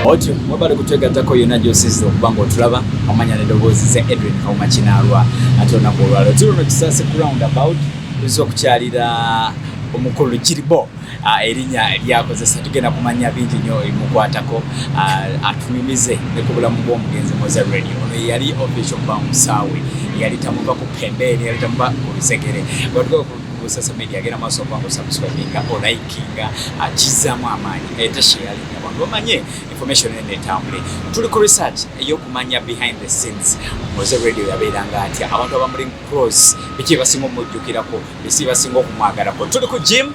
otyo webale kutwegattako yonna gyosiza okuba nga otulaba amanya nedoboozi ze edwin kauma kinaalwa ate olunaku olwalo tuluno kisase ku round about tuza okukyalira omukulu kiribo Ah, erinya lyakozesa tugenda kumanya bingi nyo ebimukwatako ah, atunyumize ne ku bulamu bw'omugenzi moza radio ono yeyali official kuba musaawe yali tamuva ku pembeeni yali tamuva ku lusegere sasa media agenda maaso okuba ngaosubscribinga olikinga ah, kizzamu amaanyi etasheyalinya abantu bamanye information ene etambule tuli ku research eyokumanya behind the scenes moze radio yabeeranga atya abantu abamuli cross biki byebasinga omujjukirako bisi basinga okumwagalako tuli ku gym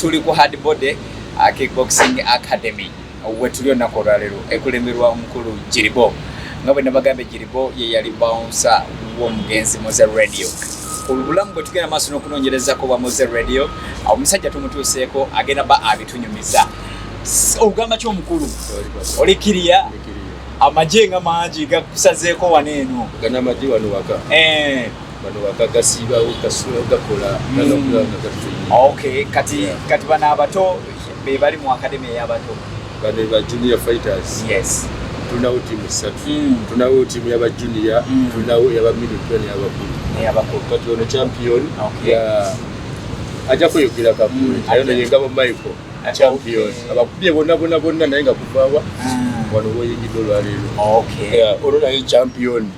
tuli ku hard body uh, kickboxing academy wetuli olunaku olwaleero ekulemberwa omukulu jiribo nga bwe nabagambye jiribo ye yali bounsa w'omugenzi moze radio olubulamu bwe tugenda maaso n'okunoonyerezako bwa moze radio omusajja tumutuuseeko agenda ba abitunyumiza ogamba ki omukulu oli kiriya amagye nga mangi gakusazeeko wano eno gana amagye wano waka eh. bano bagagasibawo kasula gakola kati kati bano abato be bali mu akademi eyabato bano ba junior fighters yes tulinawo tiimu ssatu hmm. tulinawo tiimu yaba junior hmm. tulinawo yaba midplan yabakulu eyabakulu kati ono champion ajja kweyogera kakulu hmm. ayo naye ngabo michael champion abakubye bona bona bona naye nga kuvawa wano woyingidde olwaleero olwo naye champion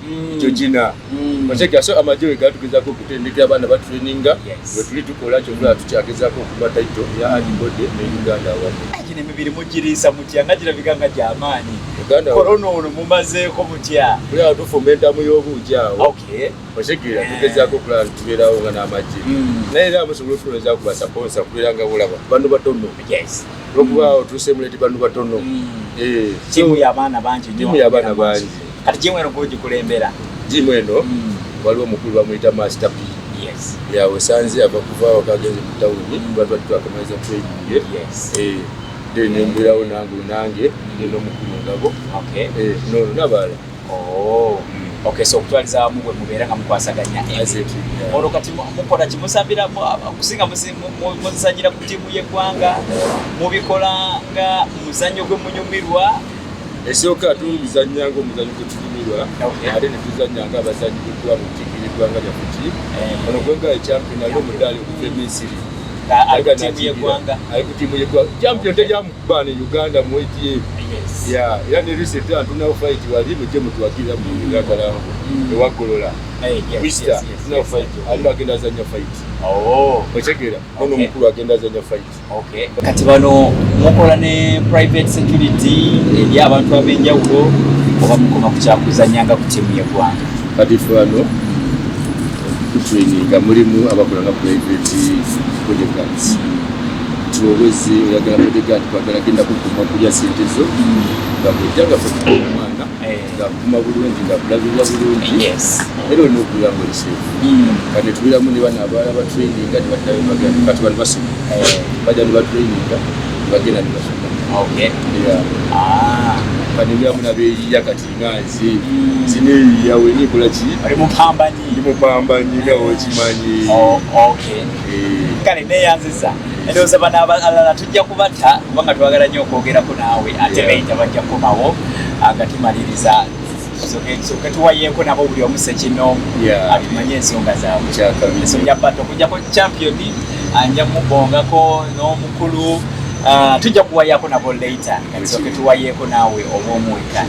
jojina Mm. otegera so amagye we gatugezako okutendekera abaana batraininga wetuli tukola kyovula tukyagezako okuba taito ya adibode ne uganda awamu gino emibiri mugiriisa mutya nga girabika nga gyamaanyi korona ono mumazeeko mutya kulaba tufumba entamu y'obuugi awo otegera eh. tugezako okulaba nitubeerawo nga n'amagye mm. naye era musobola otukoleza ku basaponsa kubeera nga bulaba bano batono lwokuba otuuse muleti bano batono mm. eh, timu yabaana bangi kati jimu eno gwogikulembera jimu eno mm. waliwo omukulu bamuyita master p yawesanze ava kuvaawo kagenze mu tawuni batwatuakamaliza mm. tweyiye eh, then mbirawo nange nange nenomukulu ngabo eh, nono nabaala oh. okay so okutwaliza wamu bwe mubeera nga mukwasaganya olwo kati mukola kimusambira kusinga muzanyira ku tiimu y'eggwanga mubikola nga muzannyo gwe munyumirwa Esooka tuluzannya ng'omuzanyo gwe tukumirwa ate ne tuzannya ng'abazanyi bwetuba mu ttiimu y'eggwanga lyaffe ki eh. ono gwegga ekyampiyona ali omudaali okuva e misiri ali ku ttiimu y'eggwanga champion tejamukubba ne uganda mu atm era ne recent tunawo fight wali mujje mutuwagirira mu ngatalango mm. ewaggolola wista tunawo fight ali agenda azannya fight oh. otegeera ono omukulu agenda azannya fight Okay. Kati bano mukola ne private security eri abantu ab'enjawulo oba mukoma ku kyakuzannya nga ku tiimu y'eggwanga? Kati ffe bano tutraininga mulimu abakola nga private bodyguards tiwowezi oyagala bodyguard kwagala genda kukuma kulya sente zo nga bwejjagafe omwana eh. ngakuma bulungi ngakulabirira bulungi era olina okubeera nga oliseefu hmm. kati netubeeramu ne bana abaala batraininga nebaddayo bagenda kati bano basoma eh. bajja nebatraininga nebagenda nebasoma ah. kati ebyamu nabeeyiya kati nga nze hmm. zineeyiya wena ekola ki ndi mupambanyi nga okimanyi oh, eh. kale neyanziza endowooza bana abalala tujja kubata kubanga twagala nnyo okwogerako naawe ate beyita bajja kukomawo agatimaliriza soka tuwayeeko nabo buli omu sekinoomu atumanye ensonga zaabwe so bya bata okujjako champion anja mubongako n'omukulu Ah, tujja kuwayako nabo later katisoke tuwayeko nawe obwomuweka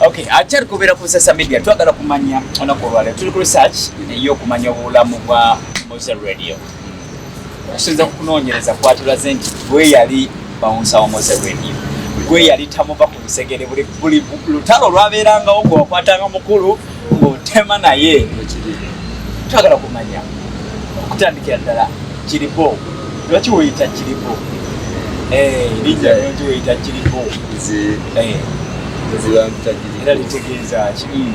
okay akyali kubeera ku social media twagala kumanya olunaku olwaleo tuli ku research eyokumanya obulamu bwa moza radio okusinza kukunonyereza kwatulaze nti gweyali bawunsa wamoze weni gweyali tamuva ku lusegere buli lutalo lwabeerangawo gwewakwatanga mukulu ng'otema naye twagala kumanya okutandikira ddala kiribo lwaki weyita kiribo eh, erinnya lwaki weyita kiribo eh. era litegeeza ki hmm.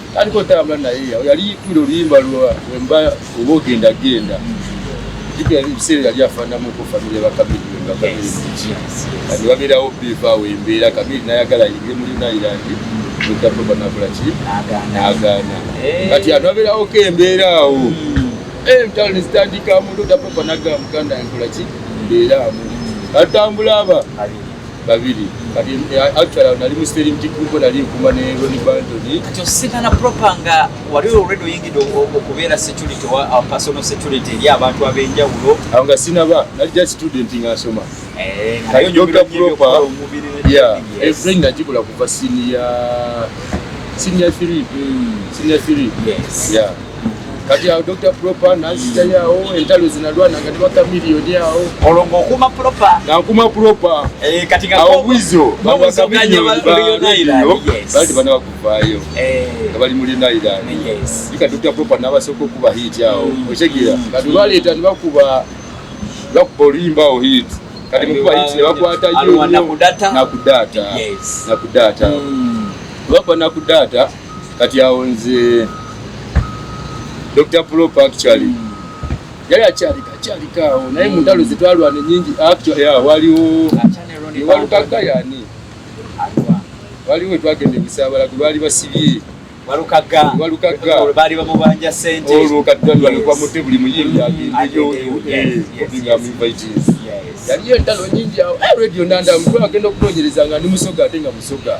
aliko otambula naye yali kuli oluyimba lwa wemba oba ogenda genda jukira ebiseera yali afaanamuko famire bakabiri wemba kabiri kati babeerawo bivaawo embeera kabiri nayagala yinge muli nayirandi etapoba nakola ki nagaana kati anu abeerawo ko embeera awo hmm. eh, emtalo nezitandika mulo tapoba nagaa muganda nkola ki mbeera amu atambula aba babiri kati eh, actually nali mu steering team kuko nali nkuma ne Ronnie Bandon kati ositana proper nga wali already oyingidde okubeera security wa uh, personal security eri abantu ab'enjawulo awo nga sinaba nali just student nga nsoma eh, kati dokita proper yeah every najikola kuva senior senior three hmm. senior three yes yeah kati awo dr propa nanzitayo awo entalo zinalwana nga tebaka miliyoni awo olwo ngaokuma propa ngankuma propa eh, awo bwizo bawaka miliyoni bati bana bakuvaayo eh. nga bali muli nairani ika dr propa nabasooka okuba hiiti awo mm. okitegera kati baleeta nibakuba bakuba oluyimba awo hiiti kati mukuba hiiti nebakwatayo nakudata nakudata mm. bakuba nakudata kati awo nze dr prop actually mm. yali akyalika akyalika awo naye mm. muntalo zetwalwana enyingi waliwo walukagga yani waliwo twagenda ebisaabala gwe baali basibye olwo katwalwankwamute buli muyimbi mm. agendeyo yaliyo entalo nyingi awo eh, radio nandamu twagenda okunonyereza nga ndi musoga ate nga musoga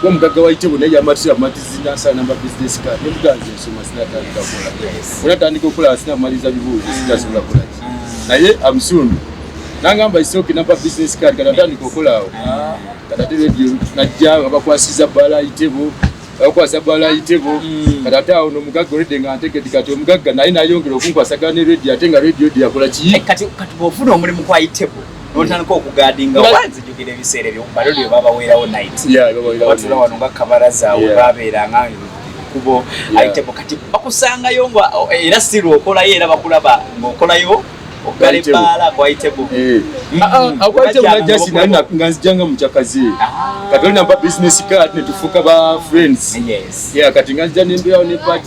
kuba mugagga wa itebo naye yamatuse amatizi nansala namba business card nemuganzi ensoma sinatandika kola onatandika okola sinamaliza bibuuzo sitasobola kola naye amusundu nangamba isoke namba business card kati atandika okolaawo ah. kati ate radio najja abakwasiza bala itebo abakwasa bala itebo hmm. kati ate awo nomugagga oledde nga ntegedi kati omugagga naye nayongera okunkwasagana ne radio ate nga radio yakola kiyi eh, kati bwofuna omulimu kwa itebo notandika okugadinga wanzijukira ebiseera ebyo balo lyo babaweerawo night batula wano nga kabaraza awo babeeranga kubo ayitebo kati bakusangayo nga era siru okolayo era bakulaba ngaokolayo ogala ebbaala kwayitebo eh. mm. ah, ah, akwayitebo ah, najasi naye nga nzijanga mukyakazi kati olinamba business card netufuuka ba friends kati nga nzija nembeerawo ne pad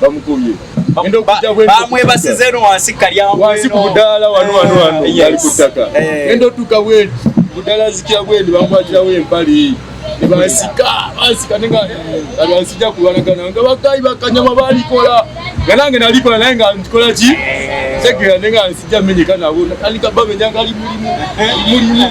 bamukubye bamwebasiza eno wansi kalyawansi ku budaala wano wano wano eh, ali ku ttaka eh. enda otuuka bwendi budaala zikira bwendi bamukwatirawo empale nebasika basika nenga abansija kulwanagana nga bakayi bakanyama balikola nga nange nalikola naye nga nkikola ki tegera nenga nsija menyeka nabo alikabamenyanga ali mulimu mulimu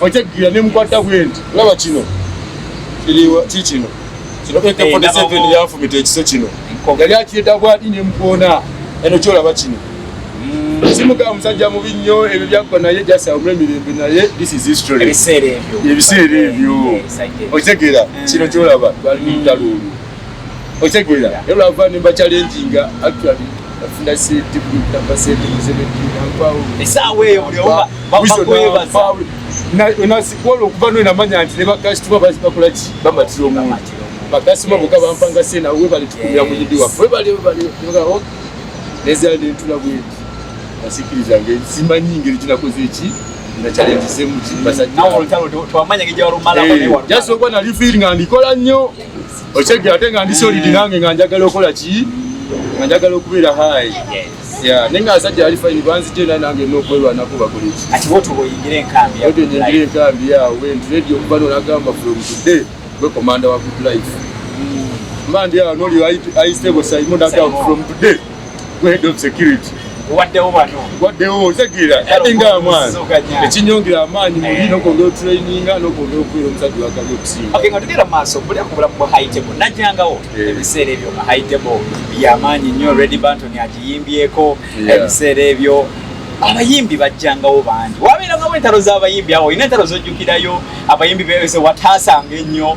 okyajjira ne mukwata bwenti olaba kino ki kino kino k 47 yafumita ekiso kino yali akiyeta bwati ne mukoona eno kyolaba kino hmm. simuga musajja mubi nnyo ebyo byakko naye jasaumula emirembe naye this is history ebiseera ebyo okitegeera hmm. kino kyolaba twali mutaluulu otegeera era lwava nemba kyalenjinga actually afuna sente kunamba sente muzebetinankwao esaawa eyo nasikwola okuva nwe namanya nti ne bakasitoma bakola ki bamatira omuntu bakasitoma boka bampanga sena webale tukumira muyindi waffe webale webale nezala nentula bwenti nasikiriza nge simanyi ngeri kinakoze eki nakyalenjisemukibasajaokuba nali fiiringa ndikola nnyo okyejja ate nga ndi solidi nange nga njagala okola ki nga njagala okubeera hayi naye nga asajja ali fayini banzija era nange nokwerwanako bakoleki ati woto boyingire enkambi woto nyingire enkambi yawo wendiredi okuba nolagamba from today gwe komanda wa good life mba ndi awo noli aistable saimo nagamba from today waddewo otegeera ate nga mwana ekinyongera amaanyi muli eh. nokwongera otraininga nokwongera okubeera omusajja wakabi okusingatugera maaso buli akubula mu haitebo najjangawo eh. ebiseera ebyo nga haitebo yamaanyi nnyo redi banton agiyimbyeko ebiseera ebyo abayimbi bajjangawo bangi wabeerangawo entalo z'abayimbi awo olina entalo zojjukirayo abayimbi bewese wataasanga ennyo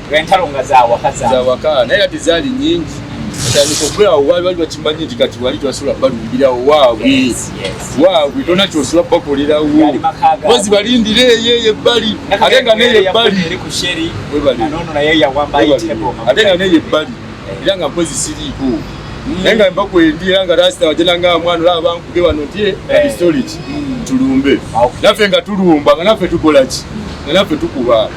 entalo nga zawaka zawaka naye kati zaali nyingi atandika okulaawo waali bali bakimanyi nti kati wali twasobola balumbirawo waabwe waabwe tona kyosobola bakolerawo bozi balindira eyo eyo ebbali ate nga neyo ebbali ate nga neyo ebbali era nga mpozi siriiko mm. naye nga mbakwendi era nga rasita wajena nga mwana olaba bankuge wano nti eh, mm. abistoriki mm. tulumbe naffe nga tulumba nga naffe tukolaki nga naffe tukuba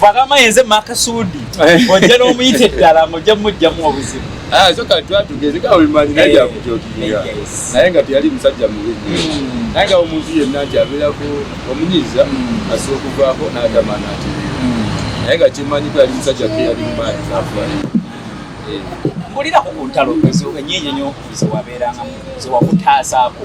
bagamba yenze makasuudi eh. ojja n'omuyita eddala ng'ojja mujjamu obuzibu ah, soka twatugezeka olimanyina yakutyotulira naye nga teyali musajja mubi hmm. naye nga omuntu yenna nti abeerako omunyiza hmm. asobola okuvaako n'agamba nati hmm. naye nga kyemanyi ko yali musajja ke yali mumaanyi nafuwali eh. mbulirako ku ntalo enyenyenyo zewabeerangamu zewakutaasaako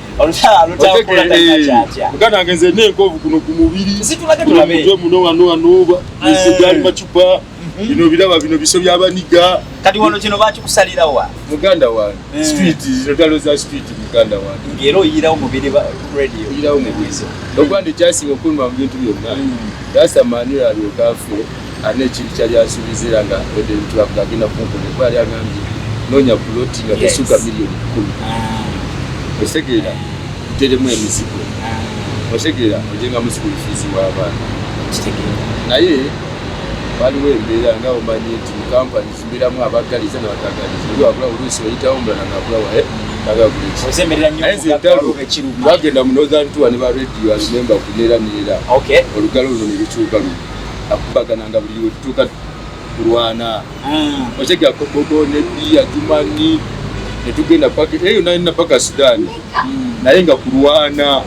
muganda nge nze nenkovu kuno ku mubiri mutwe muno wano wanoba egali eh. macupa mhm. bino biraba bino biso byabaniga kati wano kino bakikusalirawa muganda wange eh. street zirotalo za street muganda wange ngera oyirawo mubiri radio oyirawo mubiri ogwandi kyasinga okuluma mu bintu byonna mm. that's a man you are your girlfriend alina ekintu kyali asuubiza era nga wedde bitulaga agenda kunkola kuba yali agambye noonya puloti nga tesuuka miliyoni kkumi ah. otegeera teremu emizigo ah. otegeera ojenga muzigo lufiizi w'abaana naye waliwo embeera nga omanyi nti mukampani zimbeeramu abaggaliza nabatagaliza oli wabula oluusi oyitawo mulala ngabula waye twagenda mu northern tour ne ba radio alimemba kuneera neera olugalo luno ne lukyuka luno akubagananga buli wetutuuka kulwana hmm. okyega kobogo ne biya jumani netugenda paka eyo eh, nalina paka sudani hmm. naye nga kulwana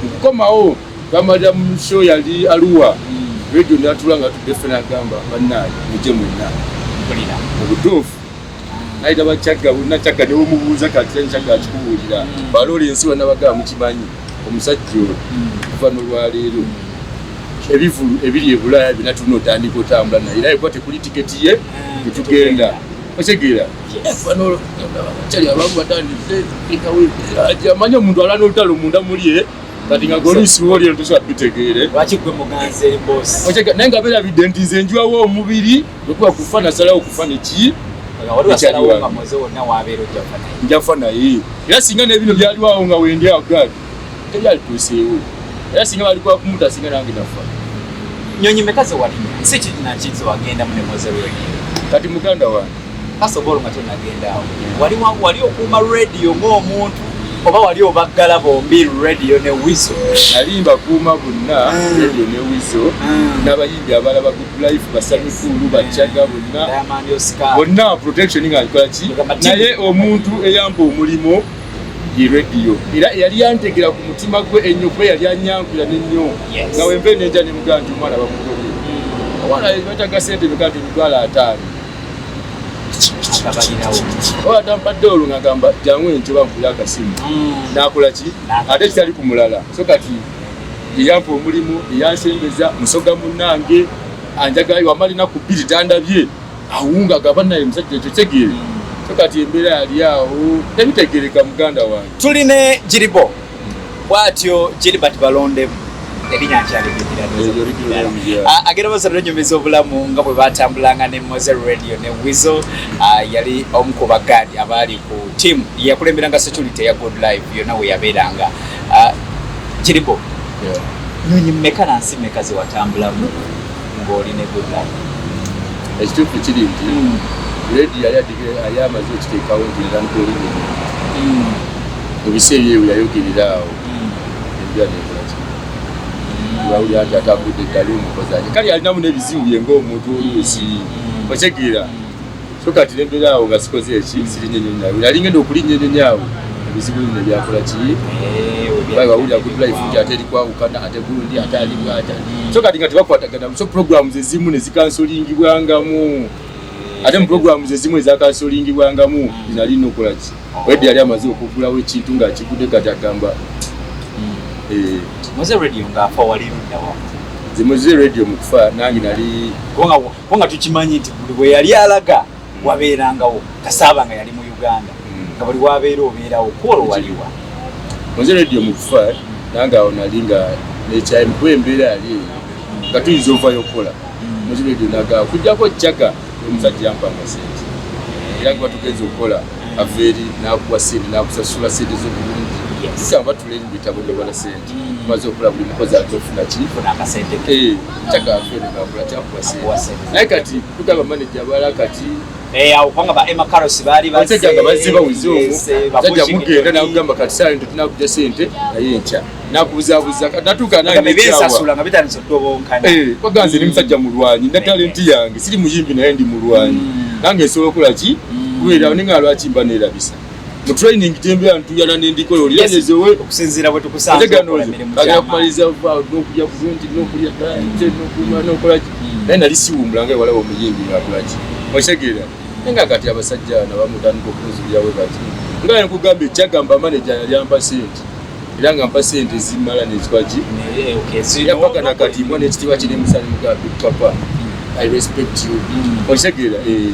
okukomawo bamalira mu sho yali aluwa hmm. radio natula nga tudde ffe nagamba banaye muje mwenna obutuufu nayita bakyagga bonna kyagga newomubuuza kati kyagga akikubuulira balola ensi wanabagaa mukimanyi omusajja oyo okuva nolwaleero ebivulu ebiri ebulaaya byona tulina otandika otambula naye era ekuba tekuli tiketi ye etugenda otegeera amanyi omuntu alana olutalo munda mulie eh? kati nga golisiwolyetusa bitegeere naye nga berabidde nti nze njiwawo omubiri Lwekuba kufa nasalawo kufa neki njafa naye era singa nebino byaliwawo nga wendi agali tebyalituuseewo era singa balikuba kumuta singa nange nafa nyonyi meka zewalinya si kirinakiki zewagenda munemozeweni kati muganda wange kasobola nga tenagendaawo wali wali okuuma radio ng'omuntu oba wali obaggala bombi radio ne wiso alimba kuuma bonna eh. radio ne wiso eh. yabalaba good life basanyukulu bacaga bonna bonna protection nga nkola ki naye omuntu eyamba omulimo ye radio era yali yantegera ku mutima gwe ennyo kuba yali anyankula nennyo nga wenva enenja ne mugaa nti omwana bamugobe mm. omwana bataga sente beka nti emitwalo ataano owatampadde olwo ngagamba jangu entyo bankuya akasimu mm. nakola ki ate kitali ku mulala so kati eyampa omulimu eyansembeza musoga munange anjagayo amalina ku bbiri tandabye awunga gaba naye musajja ekyo tegeere so kati embeera yali awo tebitegereka muganda wange tuli ne giribo bwatyo gilibert balondemu agenda basatu enyumiza obulamu nga bwe batambulanga ne mose radio ne wizo ah, yali omu ku bagaadi abaali ku tiamu yakulemberanga security ya good life yonna weyabeeranga ah, kiripo nyonyi mmeka na nsi mmeka zewatambulamu ng'oli ne good life ekituufu kiri nti hmm. redi yali yali amaze okiteekawo nti nzankolini hmm. mu biseera ebyo yayogerera awo hmm. enjula nekolaki wawulira nti atagudde eddalu omukozanye kale yalinamu n'ebizibu bye ng'omuntu oluusi otegeera so kati nebera awo nga sikoze eki sirinye nyonyi awo yali ngenda okulinnya enyonyi awo ebizibu bino byakola ki eh, bayi wawulira good life nti ate eri kwawukana ate gundi ate ali bwata so kati nga tebakwatagana so programu zezimu nezikansolingibwangamu eh, ate mu programu zezimu ezakansolingibwangamu zinali nokola ki wedi yali amaze okugulawo ekintu nga akigude kati agamba hmm. eh. zimwe ze radio mukufa nange nali ko nga tukimanyi nti buli bwe yali alaga wabeerangawo kasaaba nga yali mu uganda hmm. nga buli wabeera obeerawo kwolwo waliwa nze radio mukufa nange awo nali nga nekyayimu kuba embeera yali eyo nga tuyinza ovayo okukola nze radio naga kujjako jaga omusajja yampanga sente era kuba tugenza okukola aveeri nakuwa sente nakusasula sente zobulungi tutamba tulera ebitabo byobala sente tumaze okola buli mukozi ajja okufuna kifuna akasente ke eh, kyagafenegakula kyakuwa sente naye kati tugamba maneja abala kati eh, awo kubanga ba emma caros baali basajja nga bazze bawuze omu sajja mugenda nakugamba kati saa nto tunakuja sente naye enkya nakubuzabuza natuuka nangewaganze ni musajja mulwanyi na talenti yange siri muyimbi naye ndi mulwanyi mm. nange esobola okola ki mm. kubeerawo ninga lwaki mba neerabisa mu training gyembeera ntuyana nendiko yolyanezewe okusinziira bwe tukusanzagenda kumaliriza nokulya kulungi nokulya kanje nokunywa nokolaki hmm. naye nali siwumbula nga ewalaba omuyimbi ngakulaki okitegeera naye nga kati abasajja nabamutandika okunzulirawe kati nga nkugamba ekyagamba maneja yali ampa sente era nga mpa sente zimala nekikwaki yapaka nakati mwana ekitiibwa kiri musani mugambe papa i respect you hmm. okitegeera eh.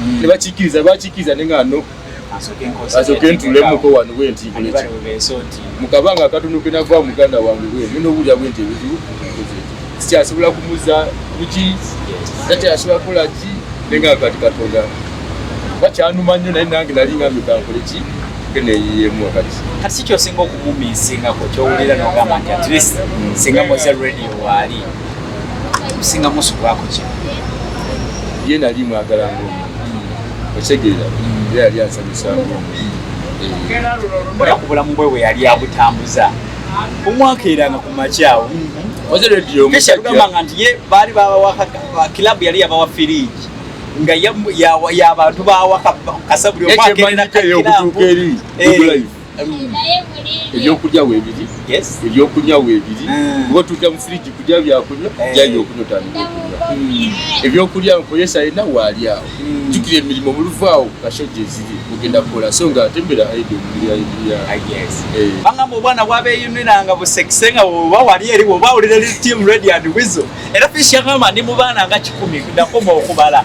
mm. nebakikiriza bakikiriza nenga no asoke ntulemuko wano bwentikuleki mukabanga akatono kenava muganda wange bwe nina obulya bwenti ebizibu sikyasobola kumuza kuki takyasobola kukola ki nenga kati katonda bakyanuma nnyo naye nange nali ngambe kankole ki keneyiyemu wakati kati sikyosinga okumuminsingako kyowulira nogamba nti at least singa moze radio waali kusinga musu kwako ki ye nali mwagala ngo otegeera ye yali ansanyusa ngo olakubula mubwe we yali abutambuza omwaka era nga kumakyawo keshagamba nga nti ye baali babawakaka kilabu yali yabawa firiji nga yabantu bawaka kasabuli omwaka era nakakirabu ebyokulya webiri ebyokunywa webiri ah. kuba tuja mu firiji kulya byakunywa eh. jayo okunywa otandika okunywa hmm. ebyokulya nkozesa yena waali awo hmm. jukira emirimu muluvu awo kashaja eziri mugenda kukola so nga ate mbera aidi omuliyabangamba ah, obwana bwabeyuniranga busekise nga oba wali eri oba wulira li team radiant wizo era fish yagamba ndi mu baana nga kikumi nakoma okubala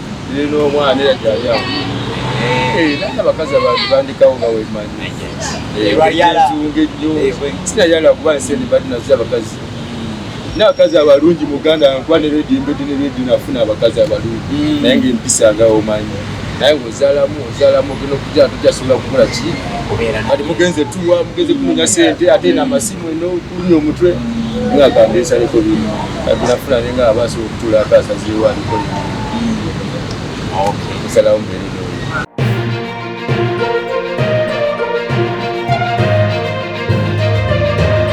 Lero omwana era gyali awo. Eh, nana abakazi abantu bandikawo nga wemanyi. Eh, Ebyala. Ebyunge nnyo. Eh, bwe- Sina yala kuba nsi endi badi nazo abakazi. N'abakazi abalungi mu Uganda nkuba ne rediyo mbedde ne rediyo nafuna abakazi abalungi. Mm. Naye ng'empisa nga omanyi. Naye ng'ozaalamu ozaalamu ogenda okujja tojasobola kukola ki. Kubeera na- Kati mugenze tuwa mugenze kunonya sente ate n'amasimu eno Kulya omutwe nga akambiisa niko biri kati nafuna ne nga abaasa okutula akasaziwo aniko biri nsalawo mbeere